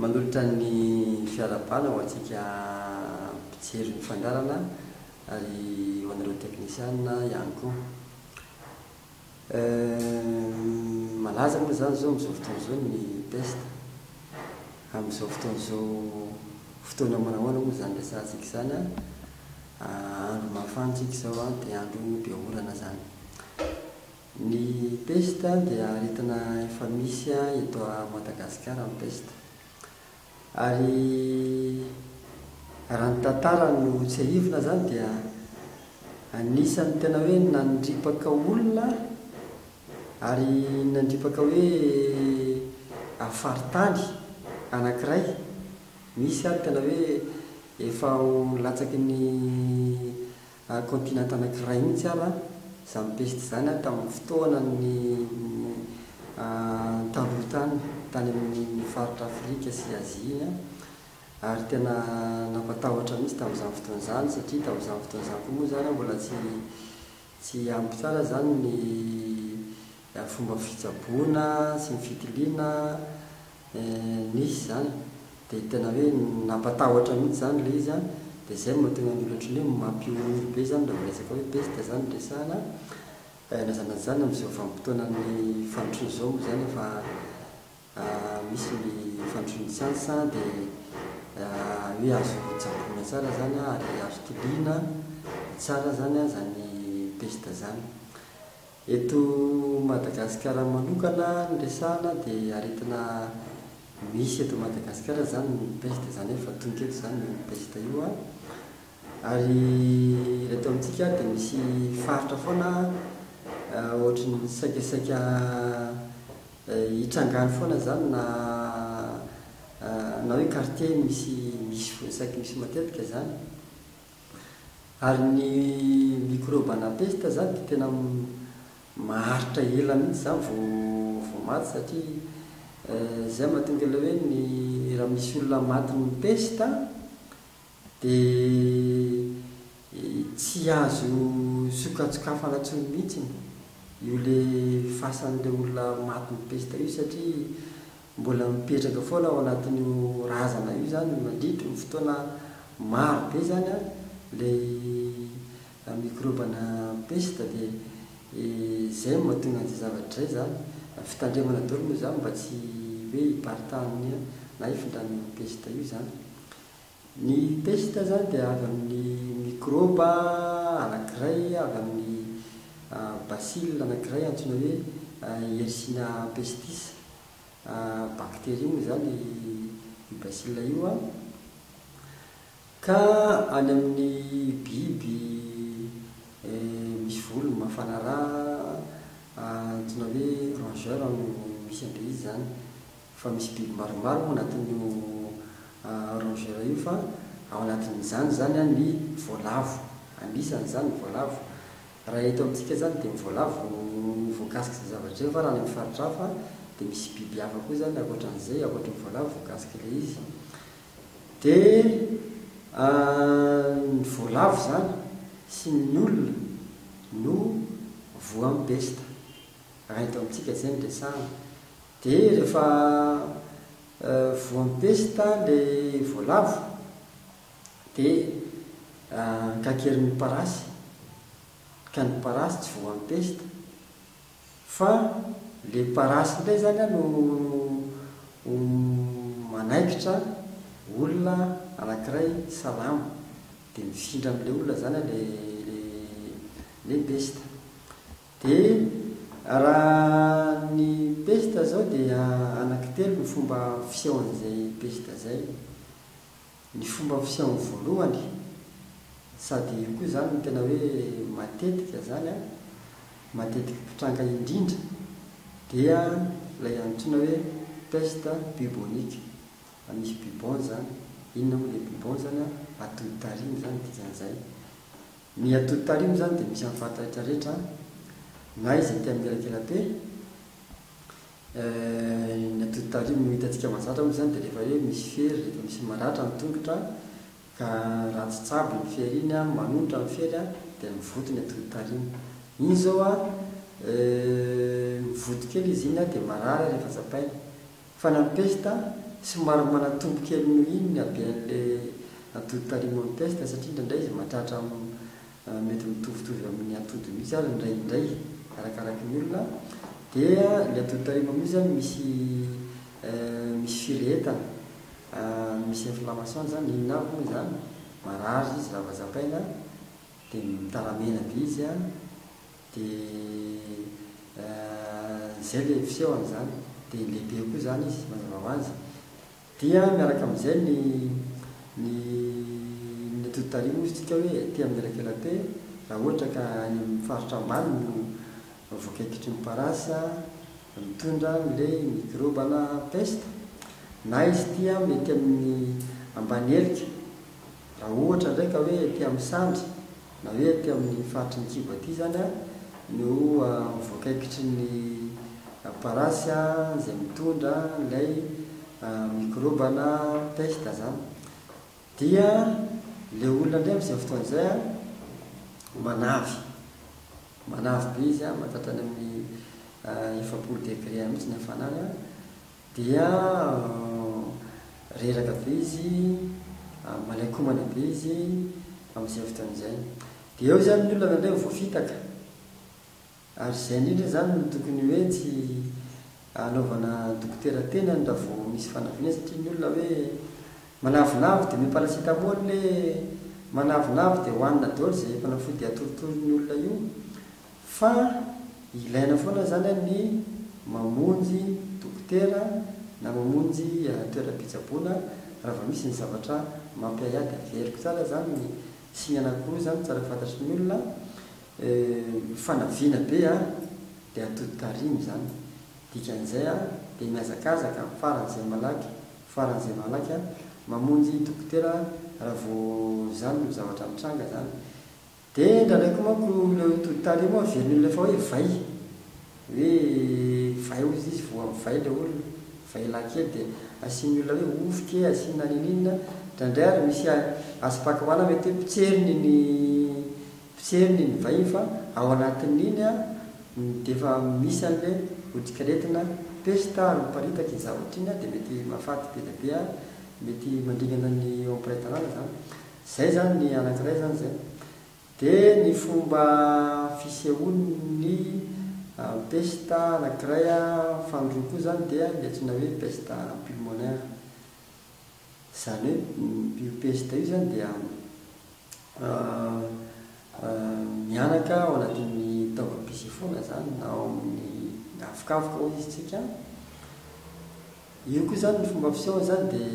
Manolotra ny fiara bala ho antsika mpijery ny fangarana ary ho anareo teknisiana ihany koa. Eehh malaza moa izany izao amin'izao fotoana izao ny peste? Amin'izao fotoana izao fotoana manahoana moa izany resahantsika izany an? Andro mafana isika izao an, dia andro be orana izany. Ny peste dia aretina efa misy eto a Madagasikara ny peste. Ary raha ny tantara no tsiahivina zany dia anisan'ny tena hoe nandripaka olona ary nandripaka hoe faritany anankiray misy ary tena hoe efa ho latsaky ny Ary continent anakiray mihitsy ara zany peste zany a tamin'ny fotoana ny taloha tany, tany amin'ny faritra Afrika sy Azia iny a, ary tena nampatahotra mihitsy tamin'izany fotoana izany satria tamin'izany fotoana izany koa moa zany mbola tsy tsy ampy tsara zany ny Ny fomba fitsaboana sy ny fitiliana nisy izany dia tena hoe nampatahotra mihitsy izany ilay izy an, dia izay no mahatonga ny olona ohatran'ny hoe mampihomehy be izany raha vao resaka hoe pesta izany no resahana, na izany na izany amin'izao vanim-potoanan'ny fandrosoana izao moa izany efa misy ny fandrosoan'ny siansa dia hoe azo tsaboina tsara izany an ary azo tiliana tsara izany an izany pesta izany. Eto Madagasikara manokana ny resahana dia aretina misy eto Madagasikara izany ny peste izany efa tonta eto izany io peste io an! ary eto amintsika dia misy faritra foana ohatry ny saika saika hitrangany foana izany na na hoe quartier misy misy saiky misy matetika izany. Ary ny mikrôba na pesta izany dia tena maharitra ela mihitsy izany vao vao maty satria izay no mahatonga ilay hoe ny raha misy olona matin'ny pesta dia tsy azo sokatsokafana intsony mihitsy io ilay fasan'ilay olona matin'ny pesta io satria Mbola mipetraka foana ao anatin'io razana io izany mandritry ny fotoana maro be izany ilay mikrobana pesta dia izay no mahatonga an'izay zavatra izay izany. Fitandremana daholo moa izany mba tsy hoe hiparitahan'ny na hifindran'ny pesta io izany. Ny peste izany dia avy amin'ny mikrôba anankiray, avy amin'ny bacille anankiray antsoina hoe Yersinia pestis. Bakteria moa izany io bacille io an. Ka any amin'ny biby misy volo mafana rà antsoina hoe rongeur no misy an'ilay izy izany. fa misy biby maromaro ao anatin'io rongeur io fa ao anatin'izany izany an ny voalavo, anisany izany ny voalavo, raha eto amintsika izany dia ny voalavo no voakasika izay zavatra izay fa raha any amin'ny faritra hafa dia misy biby hafa koa izany ankoatra an'izay, ankoatra ny voalavo voakasika ilay izy dia ny voalavo izany sy ny olona no voan'ny pesta raha eto amintsika izay no resahina Dia rehefa voampesta ilay voalavo dia kakerin'ny parasy ka ny parasy tsy voampesta fa ilay parasy indray izany no manaikitra olona anankiray salama dia mifindra amin'ilay olona izany ilay pesta. Dia raha ny pesta izao dia anaky telo ny fomba fisehoan'izay pesta izay. Ny fomba fisehoany voalohany, sady io koa izany no tena hoe matetika izany an, matetiky mpitranga indrindra, dia ilay antsoina hoe peste bubonique, misy bubon izany, inona moa ilay bubon izany an, atodi-tarihy, izany ny dikan'izay. Ny atody tarimo izany dia misy amin'ny fahataitra rehetra na izay tia amin'ny elakela-pe. Ny atody tarimo hitantsika mahazatra moa izany dia rehefa hoe misy fery, rehefa misy maratra ny tongotra ka raha tsy tsabo iny fery iny, manonitra ny fery dia mivoty ny atody tarimo. Iny izao mivoty kely izy iny dia marary rehefa tsapaina. Fa na ny pesta somary manatombo kely noho iny ny haben'le atody tarimo amin'ny pesta satria indraindray izy mahatratra mety mitovitovy amin'ny atody mihitsy ary indray indray arakaraky ny olona dia ny atody tarimo amin'io zany misy misy firehetana misy inflammation zany inona avy moa izany marary izy raha vao japaina dia mitaramena be izy an! Dia izay ilay fiseho an'izany. Dia lehibe koa izany izy, mazava ho azy. Dia miaraka amin'izay ny ny ny atody tariho moa isika hoe aty amin'ny elakelabe, raha ohatra ka any amin'ny faritra ambany no voakaikitry ny parasy mitondra an'ilay mikrobana pesta. Na izy ity mety amin'ny ambany helika, raha ohatra indray ka hoe aty amin'ny sandry. Na hoe aty amin'ny faritry ny kibo aty izany no amin'ny voakaikitry ny parasy izay mitondra an'ilay mikrôba na pesta izany. Dia ilay olona indray amin'izay fotoana izay manavy, manavy be izy, mahatratra any amin'ny efapolo degre any mihitsy ny hafanana. Dia reraka be izy, malain-komana be izy amin'izay fotoana izay. Dia eo izany ny olona avy amin'izay vao voafitaka. Ary izay indrindra izany no tokony hoe tsy anaovana dokotera tenany raha vao misy fanafihana satria ny olona hoe manavonavo dia omeo paracétamol hoe manavonavo dia hohanina daholo izay fanafody atorotoron'ny olona io Fa ilaina foana izany an ny mamonjy dokotera na mamonjy toeram-pitsaboana raha vao misy ny zavatra mampiahiahy dia averiko tsara izany ny signe anankiroa izany tsara fantatry ny olona an fanavina be an dia atodi-tarihina izany dikan'izay an dia mihazakazaka faran'izay malaky faran'izay malaky an mamonjy dokotera raha vao izany no zavatra mitranga izany Dia indraindraiky manko ilay hoe tody tarehy moa averiny amin'ilay efa hoe vay, hoe vay hoy izy izy voa mivay ilay olona, vay lahy kely dia asian'ny olona hoe ovy kee, asiana ninininona, indraindray ary misy asipakaoana mety hoe potseriny iny potseriny iny vay iny fa ao anatin'iny dia efa misy an'ilay odikiretina pesta ary miparitaka iny zavatra iny dia mety mahafaty be dia be ary mety mandringana ny eo am-piray tanàna izany. Izay izany ny anankiray izany izay. Dia ny fomba fisehoan'ny pesta anankiray fa ny roa koa izany dia ny antsoina hoe pesta pulmonaire. Izany hoe io pesta io izany dia mihanaka ao anatin'ny taovam-pisefoana izany na ao amin'ny havokavoka hoy isika. Io koa izany ny fomba fisehoany izany dia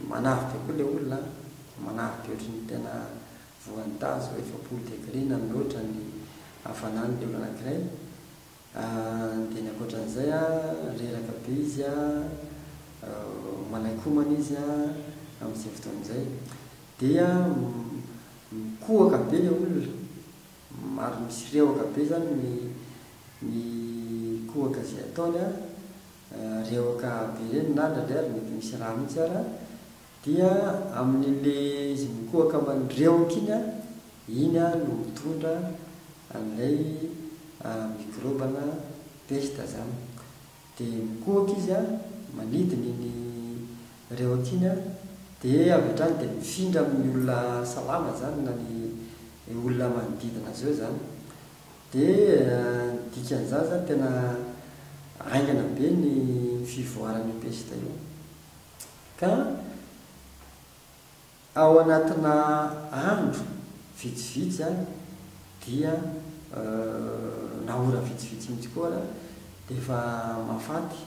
manavy be koa ilay olona an! manavy be ohatry ny tena voan'ny tazo efapolo degré na mihoatra ny hafanany ilay olona anankiray an! dia ny ankoatran'izay an reraka be izy an, manaiky homana izy an amin'izay fotoana izay, dia mikohaka be ilay olona ary misy rewaka be izany ny ny kohaka izay ataony an! Rehoka be ireny na ndraindray aza mety misy rà mihitsy ara dia amin'le izy mikohaka mandrehoka iny an, iny an no mitondra an'ilay mikrobana pesta zany. Dia mikohaka izy an, manidina iny rehoka iny an, dia avy hatrany dia mifindra amin'ny olona salama zany na ny olona manodidina azy eo zany. Dia ny dikan'izany izany tena haingana be ny fivoaran'io pesta io. Ka ao anatina andro vitsivitsy any dia na ora vitsivitsy mihitsy koa ara dia efa mahafaty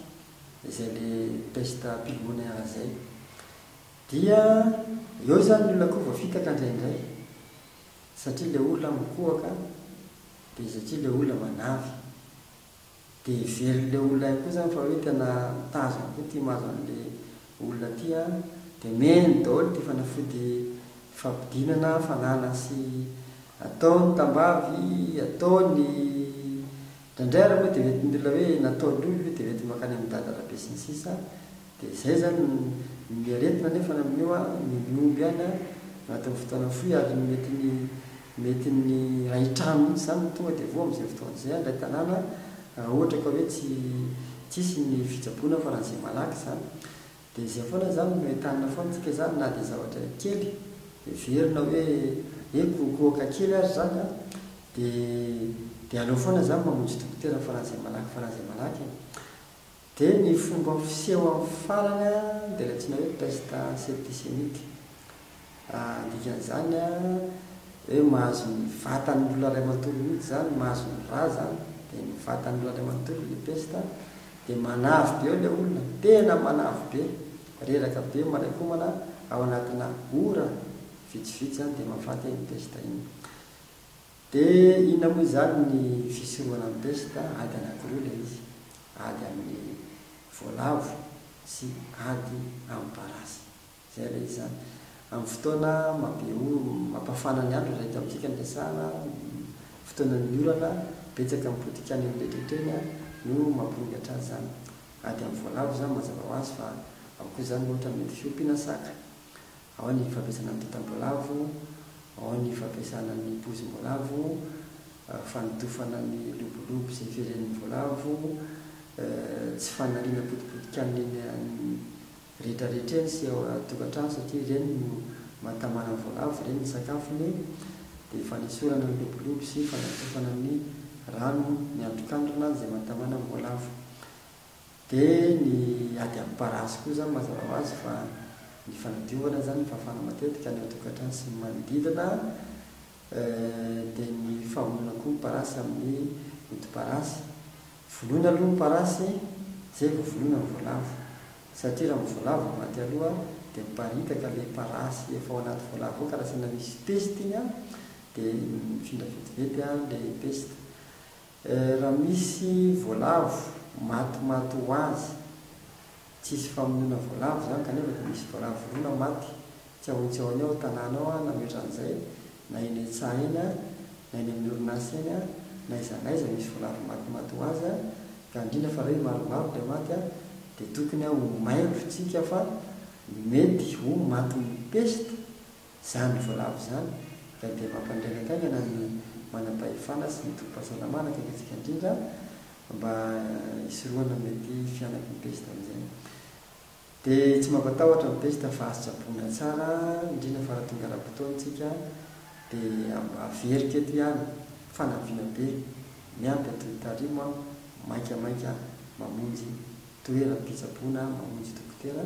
izay le pesta pulmonaire izay. Dia eo izany ny olona koa voafitaka indraindray. Satria ilay olona mikohaka dia satria ilay olona manavy. Dia heverin'ilay olona ihany koa zany fa hoe tena tazany koa ity mahazo an'ilay olona ity an, dia miheno daholo ity fanafody fampidinana fananana sy ataony tambavy, ataony indraindray ary moa dia hoentin'ny olona hoe nataon'io io dia hoentin'ny mankany amin'i dada rabe sy ny sisa Dia izay izany ny aretina anefa amin'io an, ny mihomby any an, anatin'ny fotoana fohy ary ny mety ny mety ny hahitrano mihitsy izany no tonga dia voa amin'izay fotoana izay an, ilay tanàna raha ohatra ka hoe tsy tsy hisy ny fitsaboana faran'izay malaky izany. Dia izay foana izany no entanina foana tsika izany na dia zavatra kely heverina hoe eh kohokohoka kely ary izany an, dia dia aleo foana izany mamonjy dokotera faran'izay malaky faran'izay malaky e. Dia ny fomba fiseho amin'ny farany dia ilay antsoina hoe peste septicémique. Ny dikan'izany hoe mahazo ny vatan'ny olona iray manontolo mihitsy izany, mahazo ny ra izany, dia ny vatan'ny olona iray manontolo ilay peste, dia manavy be eo ilay olona, tena manavy be, reraka be manainkomana ao anatina ora vitsivitsy izany dia mahafaty iny peste iny. Dia inona moa izany ny fisorohana ny pesta? Ady anankiroa ilay izy, ady amin'ny voalavo sy ady amin'ny parasy. Izay ilay izy izany. Amin'ny fotoana mahabe orana, mampafana ny andro, izay eto amintsika no resahana, fotoanan'ny orana, betsaka ny potika any amin'ilay toetra iny no mampirongatra azy izany. Ady amin'ny voalavo izany mazava ho azy fa ao koa izany ohatra ny mety fiompiana saka. Ao ny fampiasana ny tantam-boalavo, ao ny fampiasana ny poizim-boalavo, fanotofana ny lobolobo izay iveren'ny voalavo, tsy fanariana potipoti-kanina eny amin'ny rehetrarehetra eny sy ao an-tokantrano satria ireny no mahatamana ny voalavo, ireny ny sakafony, dia fanesorana ny lobolobo sy fanatofana ny rano miandrokandrona izay mahatamana ny voalavo. Dia ny ady amin'ny parasy koa izany mazava ho azy fa ny fanadiovana izany, ny fahafana matetika ny ao an-tokantrano sy ny manodidina, dia ny famonoana koa ny parasy amin'ny odi-parasy. Vonoina aloha ny parasy, izay vao vonoina ny voalavo. Satria raha ny voalavo vao maty aloha dia miparitaka ilay parasy efa ao anaty voalavo ao ka raha saina misy peste iny dia mifindra vetivety ilay peste. Eh raha misy voalavo maty maty ho azy tsisy famonoana voalavo izany kanefa dia misy voalavo vorona maty tsy ao tsy ao any ao tanàna ao na mihoatra an'izay na eny an-tsaha eny na eny amin'ny orinasa eny na aiza na aiza misy voalavo maty maty ho azy ka indrindra fa hoe maromaro ilay maty dia tokony ho mailo tsika fa mety ho matin'ny peste Izany voalavo izany dia dia mampangaingankaingana ny manam-pahefana sy ny tobim-pahasalamana aty amintsika indrindra mba hisorohana ny mety fihanaky ny pesta amin'izay. Dia tsy mampatahotra ny pesta fa azo tsaboina tsara indrindra fa raha tonga ara-potoana isika dia averiko eto ihany fanampiana be miampy atoy tarimo aho maika maika mamonjy toeram-pitsaboana mamonjy dokotera